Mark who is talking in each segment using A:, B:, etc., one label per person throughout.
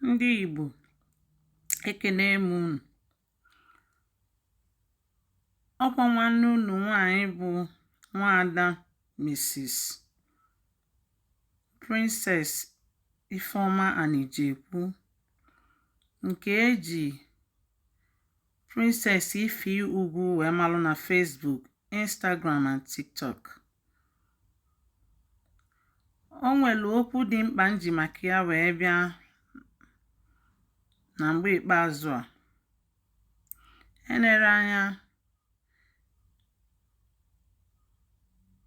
A: ndị Igbo ekene m unu ọkwa nwanne unu nwanyị bụ nwaada Mrs. Princess Ifeoma Anijekwu nke eji Princess Ife Ugwu wee malụ na Facebook, Instagram and TikTok. o nwere okwu dị mkpa m ji maka ya wee bịa na mgbe ikpeazụ a enere anya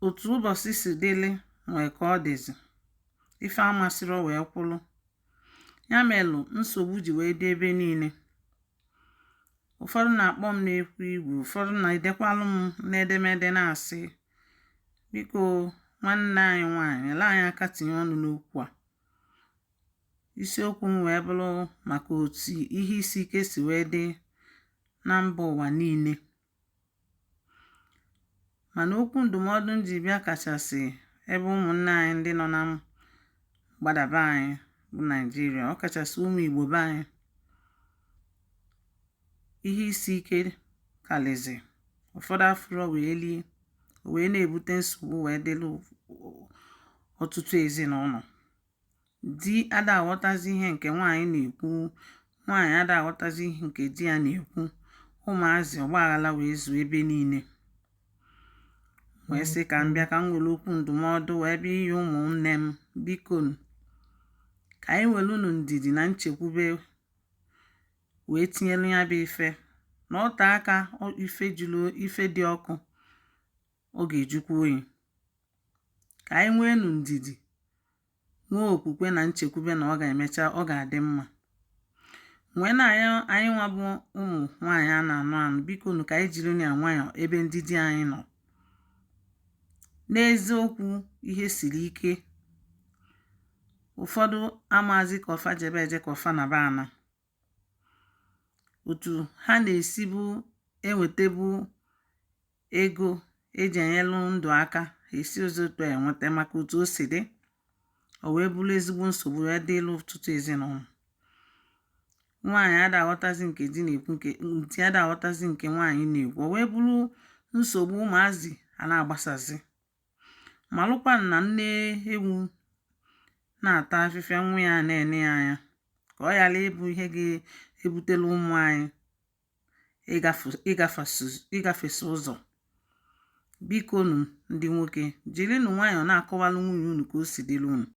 A: otu ụbọchị si dịlị nwee ka ọ dịzi ife amasịrị wee kwụlụ ya melụ nsogbu ji wee dị ebe niile ụfọdụ na-akpọ m n'ekwu igwe ụfọdụ na-edekwalụ m n'edemede na-asị biko nwanne anyị nwaanyị nyelụ anyị aka tinye ọnụ n'okwu a isiokwu m wee bụlụ maka otu ihe isi ike si wee dị na mba ụwa niile mana okwu ndụmọdụ m ji bịa kachasị ebe ụmụnne anyị ndị nọ na mgbada be anyị bụ naijiria ọ kachasị ụmụ igbo be anyị ihe isi ike kalizi ụfọdụ afụrọ wee lie o wee na-ebute nsogbu wee dịlụ ọtụtụ ezinụlọ di ada aghọtazi ihe nke nwaanyị na-ekwu nwaanyị ada aghọtazi ihe nke di ya na-ekwu ụmụazị ọgbaghara wee zuo ebe niile wee sị ka m bịa ka m were okwu ndụmọdụ wee bịa nye ụmụnne m biko ka anyị werenụ ndidi na nchekwube wee tinyelu ya bụ ife na o tee aka ife jụrụ ife dị ọkụ ọ ga-ajụkwa oyi Ka anyị nweenụ ndidi, nwee okwukwe na nchekwube na ọ ga-emecha ọ ga-adị mma. Mgbe na anyị nwa bụ ụmụ nwaanyị a na-anụ anụ biko nụ ka anyị jiri ya nwayọọ ebe ndị di anyị nọ. N'eziokwu ihe siri ike. Ụfọdụ amaazị ka ọ fa jebe eje ka ọ fa naba ana. òtù ha nà-èsibu enwètebu egō ejì ènyelụ ndụ̀ aka hà èsirọzi òtu à ènweta màkà òtù o sì dị ò wee bụlụ ezigbo nsògbu wee dịlụ ọ̀tụtụ èzinàụlọ̀ nwaànyị adà àghọtazi ǹkè di nà-èkwu ǹkè di adà àghọtazi ǹkè nwaànyị nà-èkwu ò wee bụlụ nsògbu ụmụ̀azị à na-àgbasàzị malụkwa na nne ewu na-ata afịfịa nwa ya na-ene ya anya ka ọ ghara ịbụ ihe ga-ebutela ụmụ anyị ịgafesi ụzọ bikonu ndị nwoke jirinụ nwayọọ na-akọwalụ nwunye unu ka o si dịlụ unu